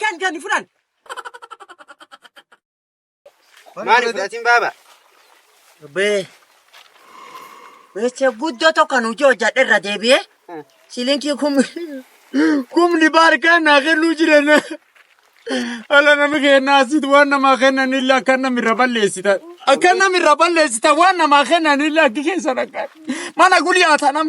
Kan kan furan. Maali fudhatiin baaba? Bee. Beeksisa guddoo tokko kan hojii hojjadhe irra deebi'ee silinkii kumni kumni baarkaan naa kennuu jiran ala nami kennaa asitti waan namaa kennan illee akka namni irra balleessita akka namni irra balleessita waan namaa kennan illee akka keessa dhaqan mana gulyaata nam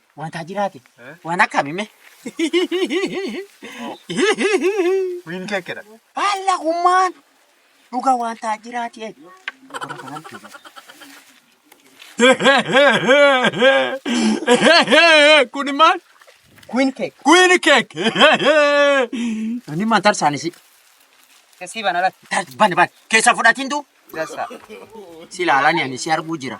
Wantaa jiraate. Waan akkami mee? Wiin keekedha. Baala hummaan dhuga wantaa jiraate. Gora kanaan fiiga. Kuni maal? Queen cake. Queen cake. Ani maan tarsaan isi. Kasii bana latti. Bani bani. Keessa fudhatiin tuu. Dasa. Si ilaalani ani si arguu jira.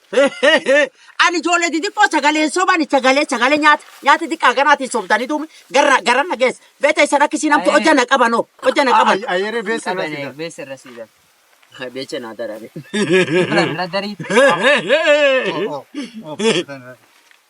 Ani ijoollee xixiqqoo sagaleen soban sagalee sagalee nyaata nyaata xiqqaa ganaatiin sobdanii tuumi gara gara na geessa. Beeta isa rakkisii namtu Ayere. hojja na qaban hoo hojja na qaban. Ayere beessa irra sida. Beessa irra sida. Beecha naa darani. Irra darii.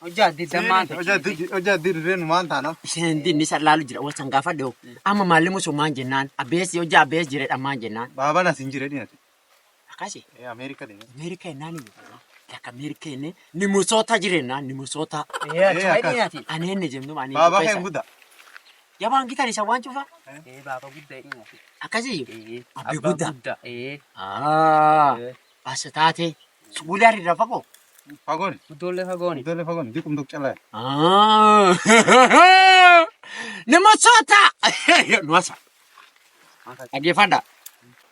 Hojjaa addi dammaa ta'e. Hojjaa addi hojjaa addi dirree nu maal taana? Isheen dinni isa laalu jira wal sangaafaa dhiyoo. Amma maalli musu maan jennaan abbeessi hojjaa abbeessi jireedha maan jennaan. Baabaan as hin jire dhiyate. Akkasi Ameerika deema. Ameerika jennaan iyyuu. Takka Ameerika jennee ni musoota jirennaan ni musoota. Ee achuma akkas. dhiyate. Aneen ni jennuu ani. Baabaa kee hin guddaa. Yabaan gitan isa waan cufa. Ee baaba guddaa dhiyate. Akkasi Ee abbee guddaa. Ee. Aa. Basa taate suguulee harri irra fagoo. Fagoon. Guddoollee fagooni. Guddoollee fagoon diqum duk calaa. Nama soota. Nuwasa. Dhaggeeffadha.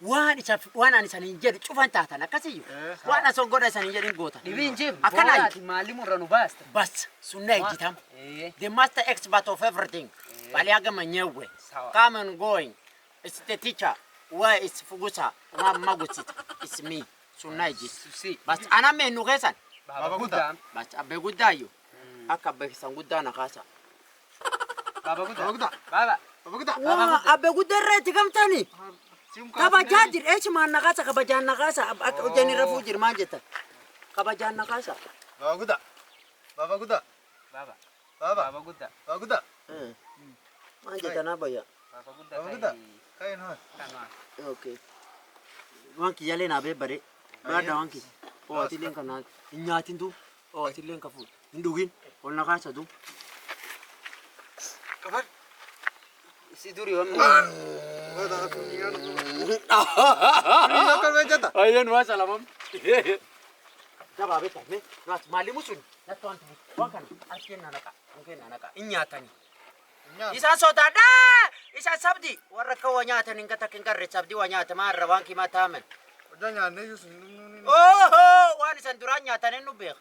Waan isa waan ani saniin jedhu cufan taatan akkasiyyu. Waan asoo godha saniin jedhin goota. Dhibiin jib. Akkanaa. Boolaati maalli murra nu baasta. Bas sunna ejjitam. Eh. The master expert of everything. Baliaga manyewe. Sawa. Come and going. Is the teacher why is fugusa wa magusita is me sunna ijit Susi. bas ana me nu kesan Baba Guda. bas abbe gudda yo akka abbe kisan gudda na kasa Baba Guda. Baba Guda. Baba. Baba Guda. wa abbe gudda irra itti gamtani Sim ka. kabajaa jir eechi maan na kasa kabajaan na kasa akka hojjani irra fuu jir maan jettan kabajaan na kasa Baba Guda. Baba Guda. Baba. Baba. Baba gudda. Baba gudda. Eh. Maal jetanaa bayya? Baba gudda. Baba gudda. Kai no. Kanwa. Okay. Waan kiyyaalee naa beebbadee. Baadha waan kiyya. Oo atiilleen kan naa hin nyaatin tuu. Oo atiilleen kan fuudhu. Hin dhugin. Ol na kaasa tuu. Kafar. Si duri waan Ayyan waa salamam. Dabaa beektaa mee naas maalimu sun natti waan tumu waan kana harkeen na naqa mukeen na naqa hin nyaatanii. Isa sodaadha isa sabdi warra akka waa nyaatan hin gata hin garre sabdi waa nyaata maa irra waan kimaa taamen. Oho waan isan duraan nyaatan hin nu beeka.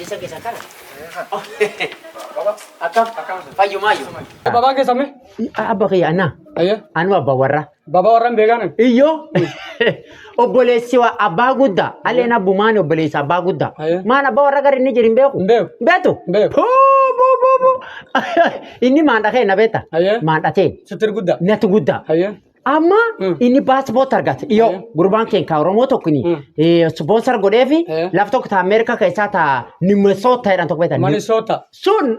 Isa keessa kana. Akkam? Fayyumaayyu. Babaa keessa mee? Abba kiyya anaa. Ayyee. Anuu abba warraa. Babaa warraan beekaan. Iyyoo obboleessi waa abbaa guddaa alleen abbumaan obboleessi abbaa guddaa Aye. maan abbaa warra gara inni jiru hin beeku Hin beeku. beetu Hin beeku. Huu, buu, buu, buu. inni maandha kee na beeta Aye. maandha tee Sittir guddaa. natu guddaa Ayyee. Amma Mm. inni paaspoortii argate dhiyoo Mm. gurbaan keenya Oromoo tokko ni Mm. ispoonsar godhee fi Eh. laf tokko ta Ameerikaa keessaa ta Minnesota jedhan tokko beektan. Manisoota. Sun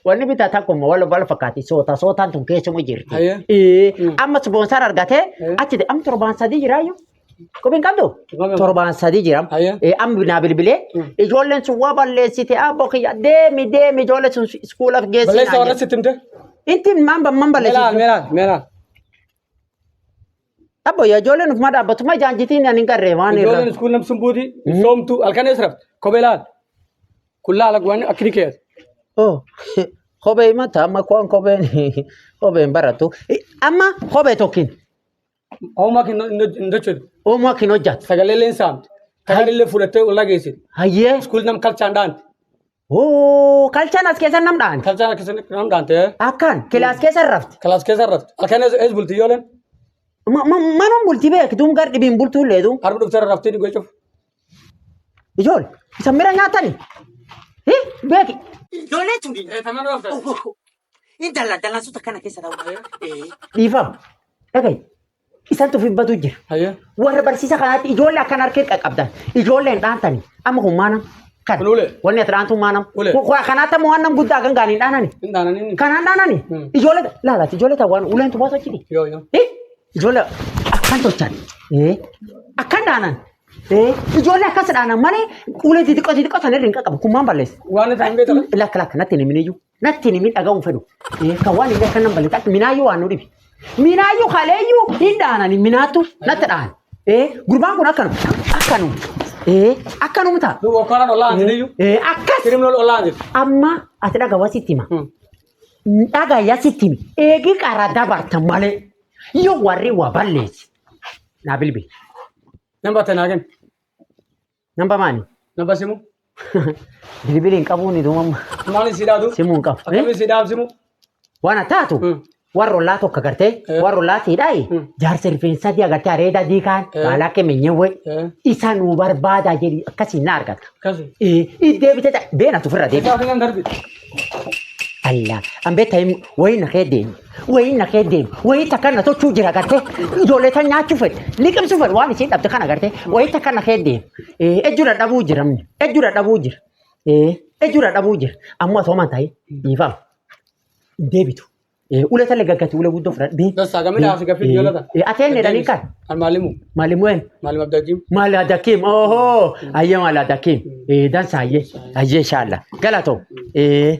wanni bitaa takkuma wal wal fakkaati soota sootaan tun keessuma jirti. Aye. Eh, Mm. Amma ispoonsar argatee Eh. achi de- amma torbaan sadii jiraayyuu. Qubi hin qabdu? Quba Torbaan sadii jira. Ayya. Eh, Amma naa bilbilee ijoolleen sun waa balleessite abboo kiyya deemi deemi ijoollee sun iskuulaaf geessi. Balleessa warra sitti himte? Inti maan ban man Meelaal, balleessi. meelaal, meelaal. Abboo yaa ijoolleen ufuma dhaabbatuma ijaan jitiin ani hin garree waan irra. Ijoolleen iskuul namsun buuti, soomtu, halkan eessa rafte? Kophee laal. Kun laala guwaan akkini keessa. Oh, kophee himata amma kuwaan kopheen kopheen baratu. Eh, Amma kophee tokkin. Homaa kan hin hojjetu. Homaa kan hojjetu. Sagalee illee hin saamtu. Takaan illee fudhattee ollaa geessi. Hayyee. Iskuulii nam kalchaan dhaanti. Hoo kalchaan as keessa nam dhaanti. Kalchaan akkasii nam dhaanti. Akkaan kilaas keessa rafti. Kilaas keessa rafti. Akkaan ees bulti yoo leen. Manum bulti beektuun gar dhibiin bultuun leetu. Arbi dhuftee raftii dhigoo cufu. Ijoole isa mira nyaatani. Beeki. Ijoollee tuni. Tamaan rafte. Intala dalansota kana keessa ta'u. Dhiifama. Dhagahi. Isantu fibbatu jira. Hayyee. Warra barsiisa kanaatti ijoollee akkan harkee qaqqabdan. Ijoolleen dhaantani. Amma kun maanam. Kan. Kun ulee. Wanni ati dhaantu maanam. Ulee. Kun kun kanaatti ammoo waan nam guddaa kan gaaniin dhaanani. Hin dhaananii inni. Kanaan dhaanani. Hmm. Ijoollee laalaati. Ijoollee ta'u waan uleen tubaatu achi dhigi. Yoo yoo. Eh, Ijoollee akkan tolchan. Eh, Akkan dhaanan. Eh, Ijoollee akkas dhaanan malee ulee xixiqqoo xixiqqoo sana irra hin qaqqabu. Kun maan balleessa. Waan itti hin beekamu. Lakka lakka natti hin himiniyyuu. Natti hin himi dhaga'uun fedhu. Kan waan inni akka nan balle takka minaayyuu waan nu dhibe. Minaayyuu kaleeyyuu hin dhaanani minaattu natti dhahan. Ee gurbaan kun akkanuma akkanuma. Ee akkanuma ta'a. Duuba okkolaan ollaan jedhiyyuu. Ee akkas Kirimnool ollaan jedhu. amma ati dhagawa sitti hima. Dhagaya sitti himi. Eegi qara dabarta malee yoo warri waa balleessi. Naa bilbili. Nan batte naa kenna. Namba maali? Namba simu. Bilibili hin qabuun ituu mamma. Maaliin si dhaabdu? Simuu hin qabu. Akkamiin si dhaabdu simu? Waan taatu Mm. warra ollaa tokko agartee Eh. warra ollaa siidhaayi Mm. jaarsa rifeensaa dii agartee areedaa dii kaan Eh. baalaa kemeenyee wayi Eh. isa nu barbaadaa jedhi akkasiin na argata. Akkasi. Eh, Iddee bitee ta'a beena tufirra deema. Isaa fi kan darbi. Allah an beektaa wayi na kee deema. Wayii na kee deemu. Wayii takka na tochuu jira gartee. Ijoollee tan nyaachuu fedhe. Liqimsuu fedhe waan isiin dhabde kana gartee. Wayii takka na kee deemu. Eh, Ejju dadhabuu jira amni. Ejju dadhabuu jira. Eh, Ejju dadhabuu jira. Ammoo osoo man ta'e dhiifama. Hin deebitu. Eh, Ulee talle gaggati ulee guddoo fudhadhe. Deemi. Dassaa gamina hafi gafi biyyola ta. Eh, Ati eenyu jedhanii kan? Kan maalimu? Maalimuu eenyu? Maalim abdajiim. Mala dakim. Oho. Ayya mala dakim. Eh, dansa ayye. Ayye inshallah. Galato. Eh,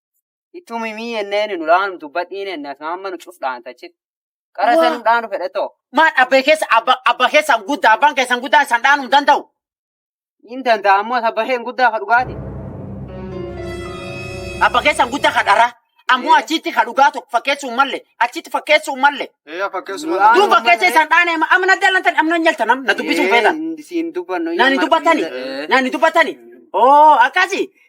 Ittuu mimii ennee nu laanu dubbadhiin enna amma nu cuf dhaantachit. Qara isa nu dhaanu fedhe too. Maal abbee keessa abba abba keessa guddaa abbaan keessan guddaa isan dhaanuu hin danda'u. Hin danda'a ammoo abba keen guddaa ka dhugaati. Abba keessan guddaa ka dharaa. Ammoo achitti ka dhugaa tokko fakkeessuun malle achitti fakkeessuun malle. Eeyaa fakkeessuma. Laa- Duuba Aanuma keessa malee. isaan dhaanee amma na dalantan amma na nyaltan amma na dubbisuun feetan. Siin dubbannu. Nani dubbatani. Nani dubbatani. Oo akkasi.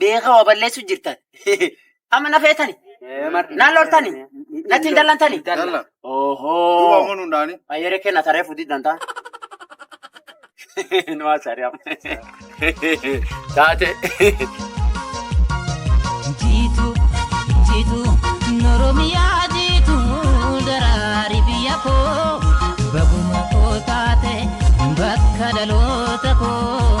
beekaa waa balleessu jirtan. Amma na feetani. Naan loltani. Natti hin dallantani. Dalla. Duuba Ohoo. ammoo nuun dhaani. Ayyere kenna taree fudii dantaa. Nu haasari'am. Taate. Jitu, jitu, Oromia jitu, darari biyya koo, baguma koo taate, bakka dhaloota koo.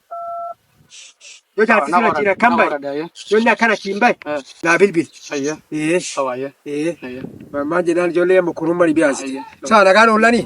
Yoo jaarsi sun achiin akkan bahe, yoo inni akkan achiin bahe, naa bilbil. Ayya. Ee, Awa ayya. ee. Ayya. Mammaan jennaan ijoollee amma kurumma ni biyaasi. Ayya. Saa nagaan oollanii.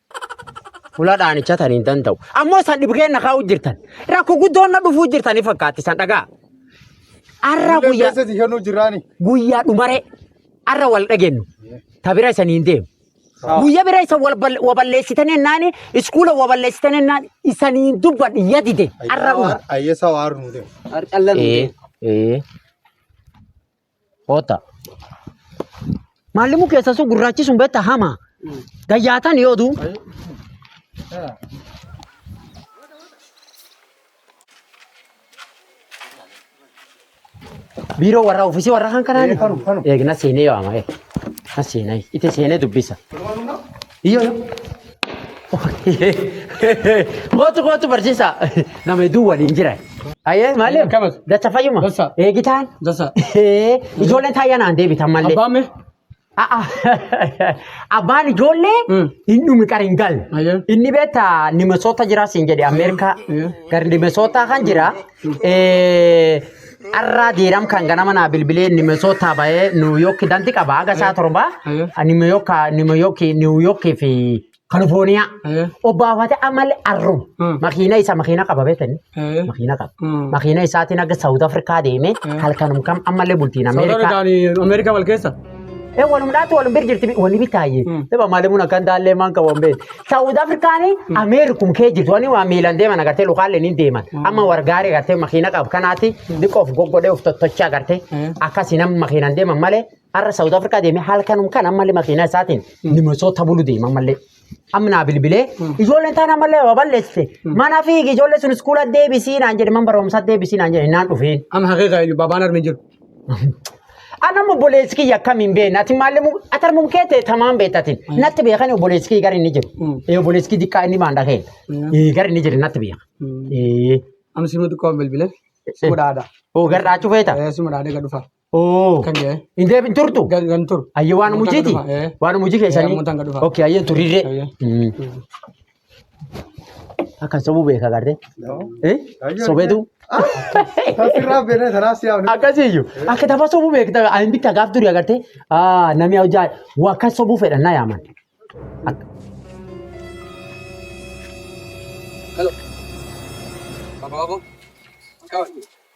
Fula dhaanicha tan hin danda'u. Ammoo isan dhibgeen na kaa'u jirtan. Rakko guddoon na dhufuu jirtanii fakkaatti isan dhagaa. Arra Illee guyyaa keessa si kennuu jiraani. guyyaa dhumare arra wal dhagennu. Ta bira isan hin deemu. Guyyaa bira isan wal bal- waballeessitan ennaani iskuula waballeessitan ennaani isan hin dubban yadide arra dhuma. Ayyeessaa waaru nu deemu. Harcallan. Ee ee Koota. Maallimuu keessa sun gurraachi sun beektaa hama. Gayyaatan yoo duu. Biiroo warra ofiisii warra kan kanaa. Eeg na seenee yaama. Eeg na seenee. Itti seenee dubbisa. Iyyoo yoo. Kootu kootu barsiisaa. Nama hedduu waliin jira. Ayyee maali? Akkamitti? Dacha fayyuma. Dacha. Eegitaan. Dasa. Ee, Ijoolleen taayyaa naan deebitan mallee. Abbaan mee? A'a. Abbaan ijoollee Mm. hin dhumi qara hin galle. Ayyee. Inni beektaa nimesoota jira siin jedhe Ameerikaa. Ayyee. Gar nimesoota kan jira. Arraa diiram kan ganama naa bilbilee nimesootaa bahee niwuyooki danti qaba haga isaa torba nimeyooka nimeyooki niwuyooki fi kalifoniyaa obbaafate amale arru makiina isa makiina qaba beekani makiina qaba makiina isaatiin haga saawut afrikaa deemee halkanum kam ammallee bultiin ameerikaa Amerika wal keessa. Ee walum dhaatu walum bir jirti wani bitaaye. Daba maalimuun akkan daallee maan qabu hin beekne. Saawud Afrikaani Ameerikum kee jirtu wani waa miilan deeman agartee lukaalle ni deeman. Amma wargaari agartee makiina qabu kanaati diqoof goggodhee of tottocha agartee akkasi nama makiinaan deeman malee har'a Saawud Afrikaa deemee halkanum kan ammallee makiina isaatiin nimasoo tabulu deema ammallee. Amma naa bilbilee ijoolleen taan ammallee waa balleesse. Mana fiigi ijoollee sun iskuula deebisii naan jedhe man barumsaa deebisii naan jedhe naan dhufeen. Amma haqee kaa babaan armi jiru. Ana mu boleessi kiyya akkamiin beekna ati maalli mu ati armum kee ta'e tamaan beektatin natti beekan boleessi kiyya gara inni jiru. Ee boleessi kiyya diqqaa inni maan dhageen. Ee gara inni jiru natti beeka. Ee Amma simu xiqqoo bilbilee. Simu dhaadha. oo gara dhaachuu feeta. Simu dhaadha egaa dhufa. Oo. Kan jedhe. Hin deebin turtu. Gan gan turu. Ayye waan Mutaan mujiiti. dhufa, ee. Waan mujii keessanii. Mutaan gad dhufa. Okay ayye turirree. Ayye. Mm. Akkan sobuu beeka garree. Eh? Ayye. Sobeetu. Tasirraa beeknee tanaas yaa wani. Akkasiyyuu. Akka tapha sobuu beekta. Ani bitta gaaf durii agartee. Ah namni hojjaa waa kan sobuu fedhan na yaaman. Ak- Hello. Apa apa? Kau.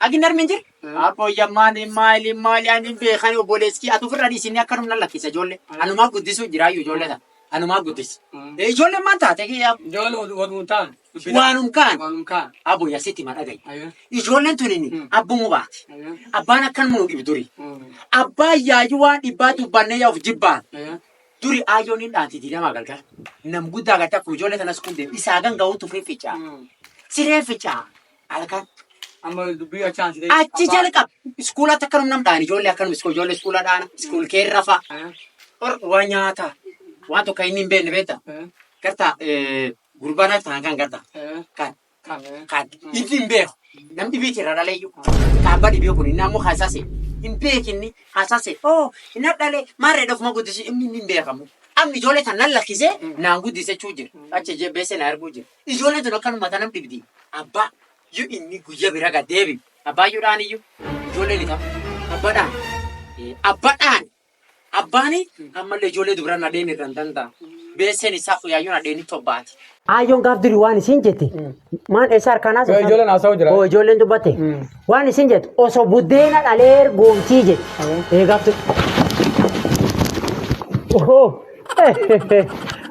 Agin armin jir? Abbo yammaan maali maali ani beekani obboleessi atu firra dhiisinni akka numna lakkisa ijoollee. Anumaa guddisu jiraayyu ijoollee tana. Anumaa guddisi. Ijoollee maan taate kiyyaa Ijoollee wal- walum ta'an. dubbina. waanum kaan Walum ka'an. abbo yasitti ma dhagayi. Ayyo. Ijoolleen tun inni Mm. abbumu baate. Ayyo. Abbaan akkan munu dhibu duri. Mm. Abbaa yaayyu waan dhibbaa dubbannee yaa of jibbaan. Ayyo. Duri aayyoon hin dhaanti diilamaa galgala. Nam guddaa garte akkuma ijoollee tanas kun deemu. Isaa ganga'uun tufee ficaa. Mm. Siree ficaa. Halkan amma dubbii achi aansitee. Achi jalqab iskuulatti akkanum nam dhaani ijoollee akkanum iskuul ijoollee iskuula dhaana iskuul kee rafa or waa nyaata waan tokko inni hin beekne beekta garta gurbaan akka ta'an kan garta kan kan inni hin beeku nam dhibii jira dhaleeyyu kaabba dhibii kun inni ammoo haasase hin beekinni haasase oo hin dhale maarree dhofuma guddisi inni hin beekamu amma ijoollee tan nan lakkisee naan guddisechuu jira achi beesee na arguu jira. Ijoolleen tun akkanuma tanam dhibdi. Abbaa yoo inni guyya bira gad deebi. Abbaa yoo dhaan iyyuu ijoollee ni ta'a. Abba dhaan. Abba dhaan. Abbaani ammallee ijoollee dubra nadheen irra hin danda'a. Beesseen isaa uyaayyoon nadheen itti obbaati. Aayyoon gaaf duri waan isin jette maan eessa harkaan haasoftan? Yoo ijoolleen haasa'u jira. Oo ijoolleen dubbatte waan isin jettu osoo buddeena dhalee ergoomtii jette. Ee gaaf duri. Ohoo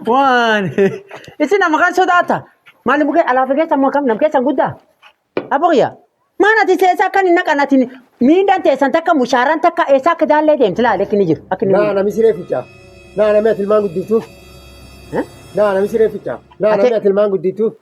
Waan. Isin nama kan sodaata. Maali mukee alaa fi keessa makam nam keessan guddaa. Aboqya. Maan ati seesaa kan hin naqan ati miidhaan teessan takka mushaaraan takka eessaa akka daallee deemti laale akka inni jiru. Akka inni Naa nami siree ficaa. Naa nami ati ilmaan guddiftuuf. Naa nami siree ficaa. Naa nami ati ilmaan guddiftuuf.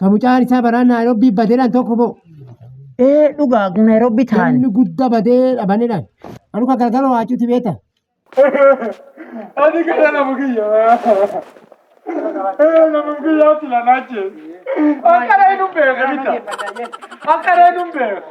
Ka mucaan isaa baraa Naayirobbii badeedhaan tokko boo. Ee dhugaa Naayirobbii taa'an. Namni guddaa badee dhabaneedhaan. Anu ka gargara waacuuti beeta. Ati kana nama kiyya. Nama kiyya ati lanaache. Akkana hin beeku. Akkana hin beeku.